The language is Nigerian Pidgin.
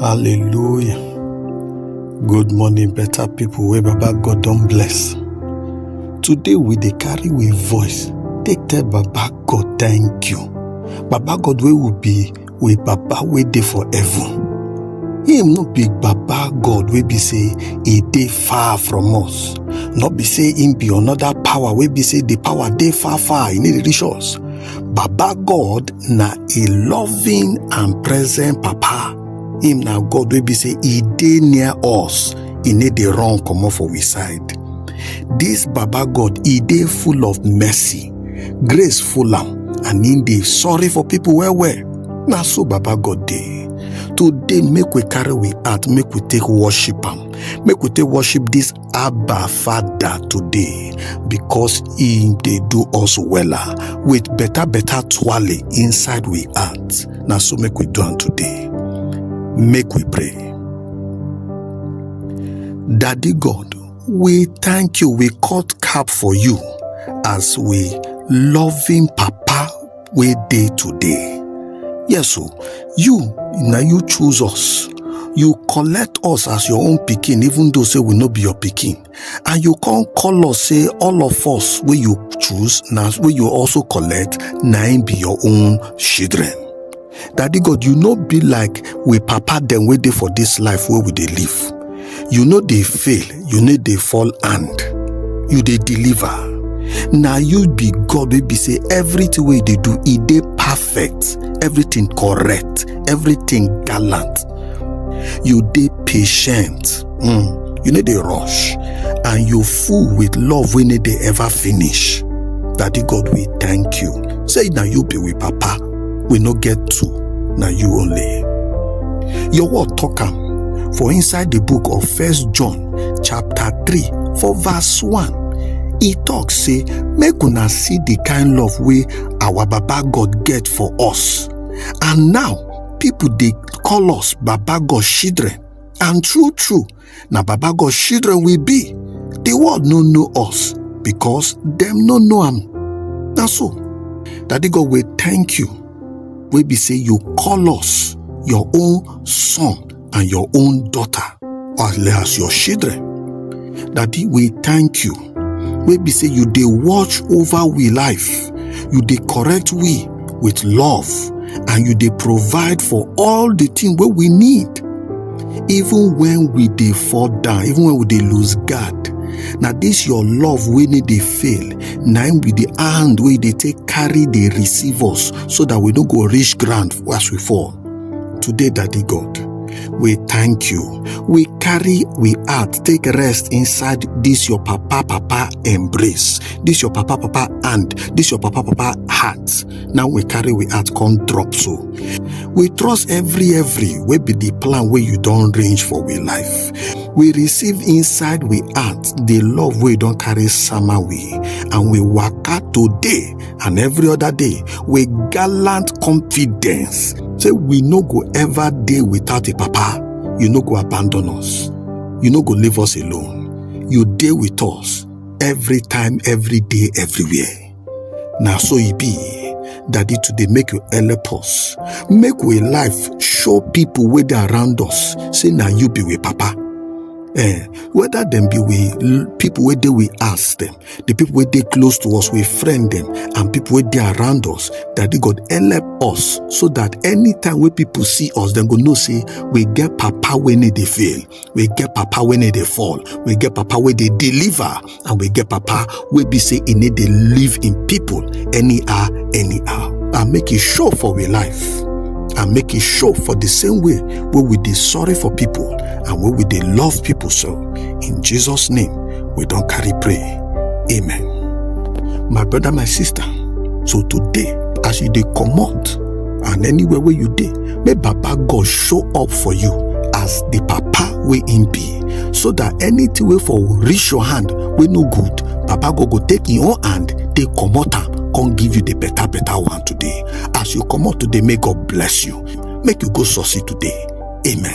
Hallelujah. Good morning, better people wey Baba God don bless. Today we dey carry we voice take tell Baba God thank you. Baba God wey will be we Baba wey dey for heaven. Him no be Baba God wey be say e dey far from us. No be say him be another power wey be say the power dey far far, e no dey reach us. Baba God na a loving and present Papa. Him na God wey be say e dey near us, e no dey run comot for we side. This Baba God, e dey full of mercy, grace full am, and him dey sorry for people well well. Na so Baba God dey. Today make we carry we heart, make we take worship am, make we take worship this Abba Father today because he dey do us wella with better better twale inside we heart. Na so make we do am today. Make we pray. Daddy God, we thank you, we cut cap for you as we loving papa wey dey today. Yes o, you na you choose us. You collect us as your own pikin even though say we no be your pikin and you come call us say all of us wey you choose na wey you also collect na im be your own children. Daddy God, you no be like we papa dem wey dey for this life wey we dey live. You no dey fail, you no dey fall hand. You dey deliver. Na you be God wey be say everything wey you dey do, e dey perfect, everything correct, everything gallant. you dey patient mm, you no dey rush and you full with love wey no dey ever finish daddy god we thank you say na you be we papa we no get two na you only your word talk am for inside the book of first john chapter 3 for verse 1 e talk say make una see the kind love wey our baba god get for us and now people dey call us baba god children and true true na baba god children we be the world no know us because dem no know am na so daddy god we thank you wey be say you call us your own son and your own daughter as well as your children daddy we thank you wey be say you dey watch over we life you dey correct we with love and you dey provide for all the thing wey we need even when we dey fall down even when we dey lose guard na this your love wey no dey fail na im be the hand wey dey take carry dey receive us so that we no go reach ground as we fall Today, Daddy God, we thank you. We carry we heart take rest inside this your papa papa embrace, this your papa papa hand, this your papa papa heart. Now we carry we heart come drop so. We trust every every wey be the plan wey you don range for we life. We receive inside we heart the love wey don carry sama we and we waka today and every other day with gallant confidence say we no go ever dey without a papa you no go abandon us you no go leave us alone you dey with us every time every day everywhere na so e be daddy today make you help us make we life show people wey dey around us say na you be we papa eh whether dem be we l- people wey dey with us dem the people wey dey close to us we friend them and people wey dey around us daddy god help us so that anytime wey people see us dem go know say we get papa wey no dey fail we get papa wey no dey fall we get papa wey dey deliver and we get papa wey be say e no dey live in people anyhow anyhow and make e show for we life and make e show for the same way wey we dey sorry for people and wey we dey love people so in jesus name we don carry pray. Amen. My brother, my sister, so today, as you dey comot and anywhere wey you dey, make Baba God show up for you as the Papa wey him be, so that anything wey for reach your hand wey no good, Baba God go take him own hand take comot am come give you the better better one today. As you comot today, may God bless you. Make you go succeed today. Amen.